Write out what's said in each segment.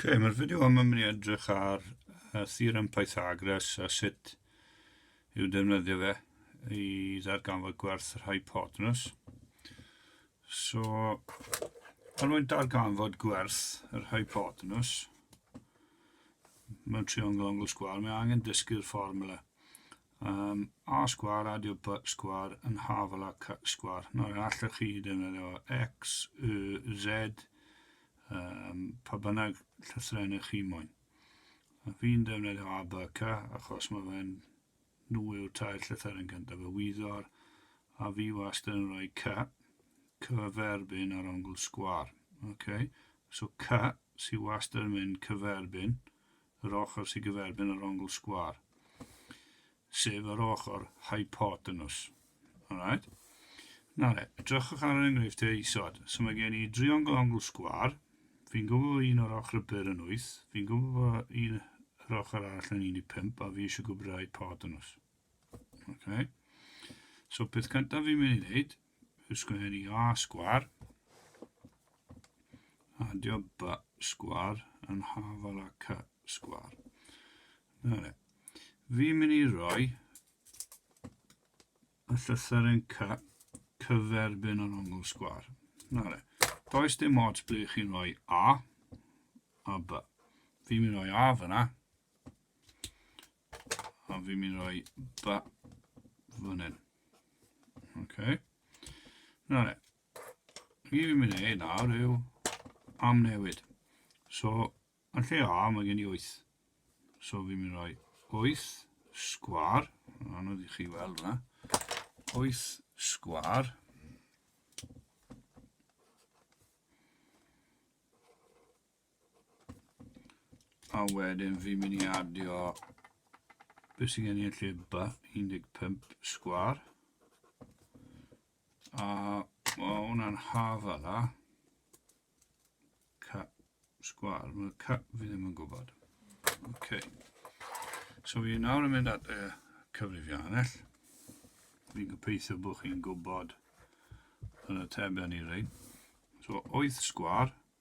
okay, mae'r fideo yma mynd i edrych ar uh, theorem Pythagoras a sut i'w defnyddio fe i ddarganfod gwerth yr hypotenus. So, er mwyn darganfod gwerth yr hypotenus mewn triongl ongl sgwar, mae angen dysgu'r fformula. Yym, A sgwâr a dy By sgwâr yn haf ala Cy sgwâr. Nawr, yn allwch chi defnyddio X, Y, Z, um, pa bynnag llythrennau chi moyn. A fi'n defnyddio A, B, C, achos mae fe'n nhw yw'r tair llythyr yn gyntaf, y wyddor, a fi wastad yn rhoi C, cyferbyn ar ongl sgwâr. Okay? So C sy'n wastad yn mynd cyferbyn yr ochr sy'n gyferbyn yr ongl sgwâr, sef yr ochr hypotenws. Alright? Na le, edrychwch ar yr enghreifftiau e isod. So mae gen i driongl ongl sgwar, fi'n gwybod bod un o'r ochr y byr yn 8, fi'n gwybod bod un yr ochr arall yn 15, a fi eisiau gwybod y hypotenws. Okay. So peth cyntaf fi'n mynd i wneud, sgwr i A sgwar. Adio B sgwar yn hafal â C sgwar. Na le. Fi'n mynd i roi y llythyren C cyferbyn yr ongl sgwar. Na le. Does dim ots ble chi'n rhoi A a B. Fi'n mynd i roi A fyna. A fi'n mynd roi ba fan hyn. Ok. Na le. Fi fi'n mynd ei nawr yw am newid. So, yn lle A, mae gen i 8. So, fi'n mynd roi 8 sgwar. Anodd i chi weld yna. 8 sgwar. A wedyn fi'n mynd i adio beth sy'n gen i yn lle ba 15 sgwar. A mae hwnna'n hafa dda. Cap sgwar, mae cap fi ddim yn gwybod. Okay. So fi nawr yn mynd at y cyfrifiannell. Fi'n gobeithio bod chi'n gwybod yn y teben i reid. So 8 sgwar,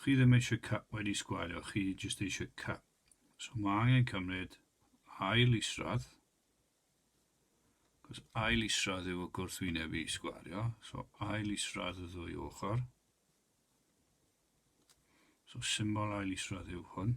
Chi ddim eisiau cap wedi sgwario, chi jyst eisiau cap. So mae angen cymryd ail isradd, cos ail isradd yw y gwrthwyneb i sgwario, so ail isradd y ddwy ochr. So symbol ail isradd yw hwn.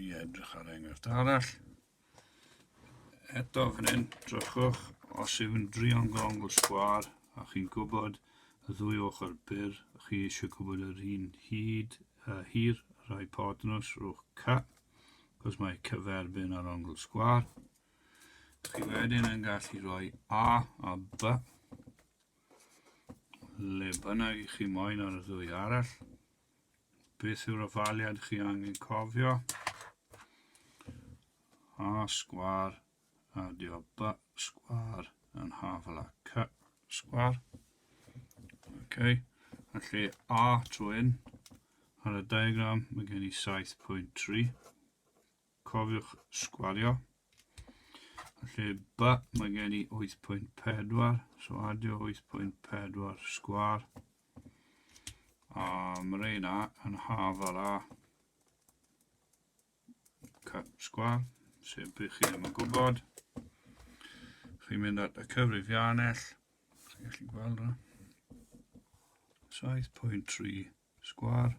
i edrych ar enghraifft arall. Eto fan hyn, drychwch, os yw'n driongongl sgwar, a chi'n gwybod y ddwy ochr byr, chi eisiau gwybod yr un hyd a uh, hir yr hypotenus, rhwch ca, cos mae cyferbyn ar ongl sgwar. Chi wedyn yn gallu rhoi A a B le bynnag i chi moyn ar y ddwy arall. Beth yw'r ofaliad chi angen cofio? A sgwar, adio B sgwar yn hafel â C sgwar. Okay. Felly A trwy un, ar y diagram mae gen i 7.3. Cofiwch sgwario. Felly, ba, mae gen i 8.4, so adio 8.4 sgwar. A mae reina yn haf ar a cap sgwar, sef bych chi ddim yn gwybod. Chi'n mynd at y cyfrifiannell, chi'n gallu gweld yna. 7.3 sgwar.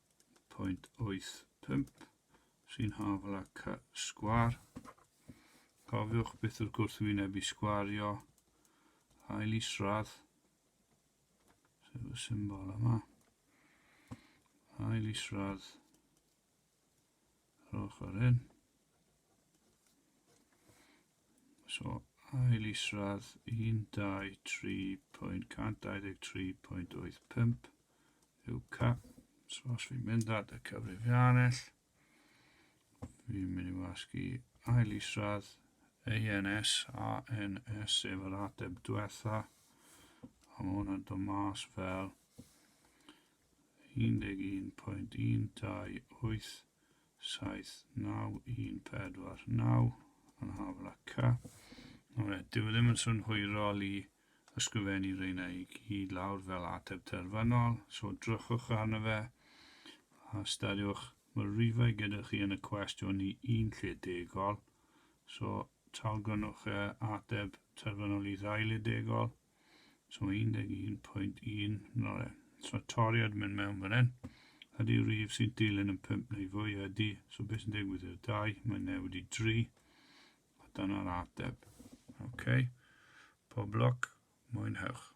0.85 sy'n hafal â ca sgwar. Cofiwch beth yw'r gwrthwynebu sgwario, hael isradd, sef y symbol yma, hael isradd yr ochr hyn. So, ail isradd 123.123.85 yw cap. So, os fi'n mynd at y cyfrifiannell, fi'n mynd i wasgu ail isradd ANS, ANS sef yr ateb diwetha, a mae hwnna'n dod mas fel 11.128 79149 yn Havlakka. Nawr e, dyw e ddim yn swn hwyrol i ysgrifennu reina i gyd lawr fel ateb terfynol, so drychwch arno fe a ystyriwch, mae'r rifau gyda chi yn y cwestiwn i un lle degol, so talgrynnwch e ateb terfynol i ddau le degol, So 11.1 'na fe. So toriad mynd mewn fan hyn. Ydy rif sy'n dilyn yn 5 neu fwy ydy. So beth sy'n digwydd i'r 2? Mae'n newid i 3. A dyna'r ateb. OK. Pob lwc. Mwynhewch.